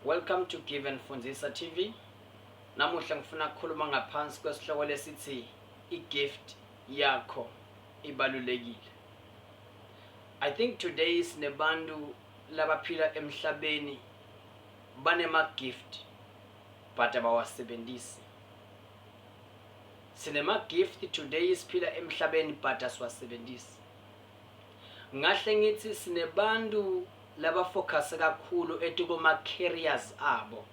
Welcome to Give and Fundisa TV. Namuhla ngifuna kukhuluma ngaphansi kwesihloko lesithi i-gift yakho ibalulekile. I think today sinebantu labaphila emhlabeni banema-gift but abawasebenzisi. Sinema-gift today siphila emhlabeni but asiwasebenzisi. Ngahle ngithi sinebantu Laba focus kakhulu at kuma careers abo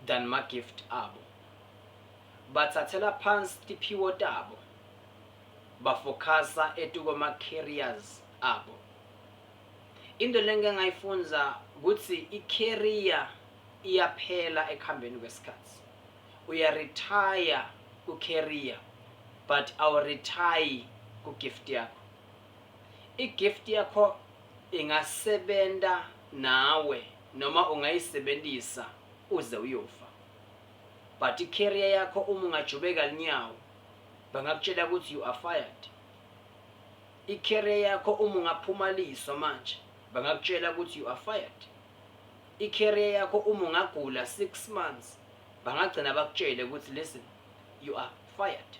than ma gift abo. Bathathela phansi tiphiwo tabo ba focusa at kuma careers abo. Into lengike ngayifundza kutsi i career iyaphela ekuhambeni kwesikhatsi. Uya retire ku career but awu retire ku gift yakho. I gift yakho ingasebenta nawe noma ungayisebentisa uze uyofa but i career yakho uma ungajubeka linyawo bangakutshela ukuthi you are fired. I career yakho uma ungaphuma liso manje bangakutshela ukuthi you are fired. I career yakho uma ungagula 6 months bangagcina bakutshele ukuthi listen you are fired.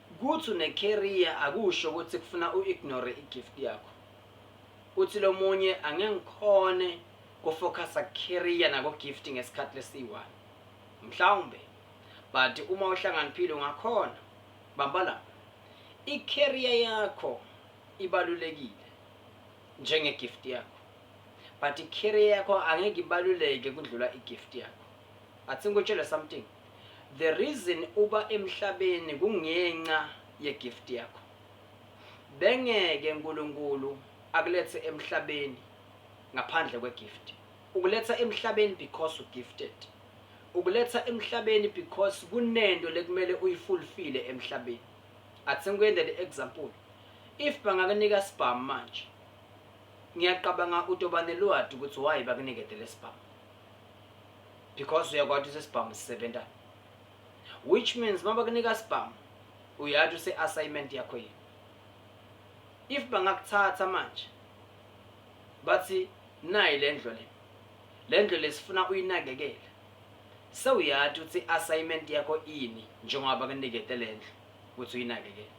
Kuthi une career akusho ukuthi kufuna u ignore i gift yakho. Uthi lomunye angeke ngikhone ku focusa ku career nako gift ngesikhathi lesiyi one. Mhlawumbe but uma uhlanganiphile ungakhona. Bamba la. I career yakho ibalulekile njenge gift yakho. But i career yakho angeke ibaluleke kudlula i gift yakho. Athi ngikutshele something. The reason uba emhlabeni kungenxa ye gift yakho. Bengeke Nkulunkulu akulethe emhlabeni ngaphandle kwe gift. Ukuletha emhlabeni because u gifted. Ukuletha emhlabeni because kunento lekumele uyifulfile emhlabeni. Athi ngikuyende le example. If bangakunika sibhamu manje. Ngiyaqabanga utoba nelwati ukuthi why bakunikete lesibhamu. because uyakwati usesibhamu sisebenza which means uma bakunika sibhamu uyati use-assignment yakho yini if bangakuthatha manje bathi nayi le ndlo le le ndlo lesifuna uyinakekele sewuyati ukuthi i-assignment yakho ini njengoba bakunikete le ndlo ukuthi uyinakekele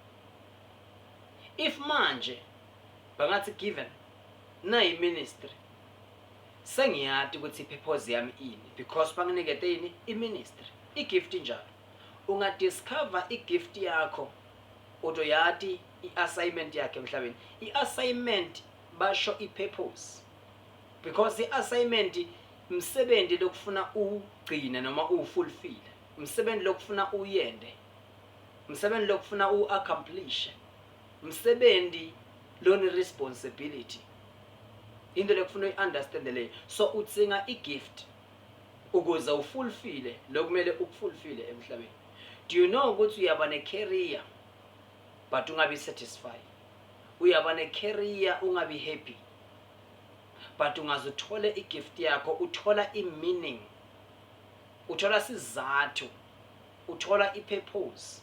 if manje bangathi given nayi ministry Sengiyati ukuthi purpose yami ini because banginikete ini i ministry i gift injalo. Unga discover i gift yakho utoyati i assignment yakhe emhlabeni. I assignment basho i purpose because i assignment msebenzi lokufuna ugcina noma uwufulfill msebenzi lokufuna uyende msebenzi lokufuna uaccomplish msebenzi loni responsibility into lekufuna uyi-understand leyo so udzinga i-gift ukuze ufulfile lokumele ukufulfile emhlabeni do you know ukuthi uyaba ne-career but ungabi satisfied uyaba ne-career ungabi happy but ungaze uthole i-gift yakho uthola i-meaning uthola sizathu uthola i-purpose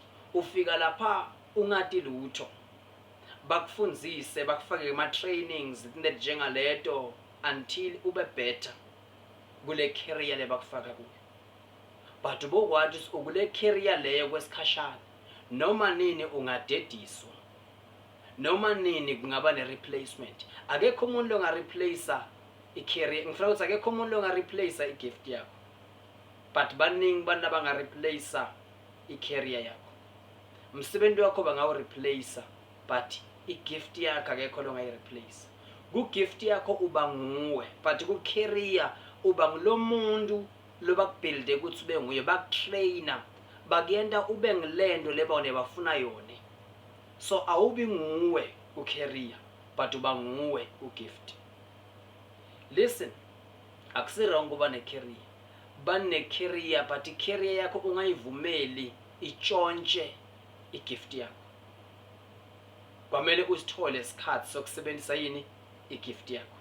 Ufika lapha ungati lutho. Bakufundzise, bakufake kuma trainings nletjengaleto until ube better kule career lebakufaka kuyo. But ubokwati kutsi ukule career leyo kwesikhashana, noma nini ungadediswa. Noma nini kungaba ne replacement. Akekho umuntu longa replacer i career, ngifuna ukuthi akekho umuntu longa replacer i gift yakho. But baningi abantu abanga replacer i career yakho umsebenzi wakho bangawu replace but i gift yakho akekho longayi replace ku gift yakho uba nguwe but ku career uba ngulomuntu lobakubuilde ukuthi ube nguye bakutrainer bakuyenta ube ngilento leba wena bafuna yona so awubi nguwe ku career but uba nguwe ku gift listen akusirongo uba ne career Bane carrier but i carrier yakho ungayivumeli itshontshe i gift yakho. Kwamele usithole isikhathi sokusebenzisa yini i gift yakho.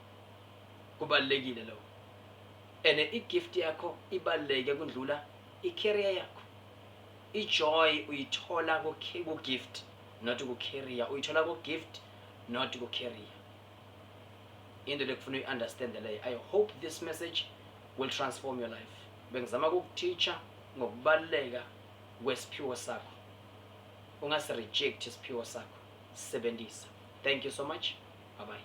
Kubalulekile lokho. Ene i gift yakho ibaluleke kundlula i carrier yakho. I joy uyithola ku gift not ku carrier. Uyithola ku gift not ku carrier. into lekufuna uyi-understand leyo i hope this message will transform your life bengizama kukuteacher ngokubaluleka kwesiphiwo sakho ungasireject isiphiwo sakho sisebenzisa thank you so much bye bye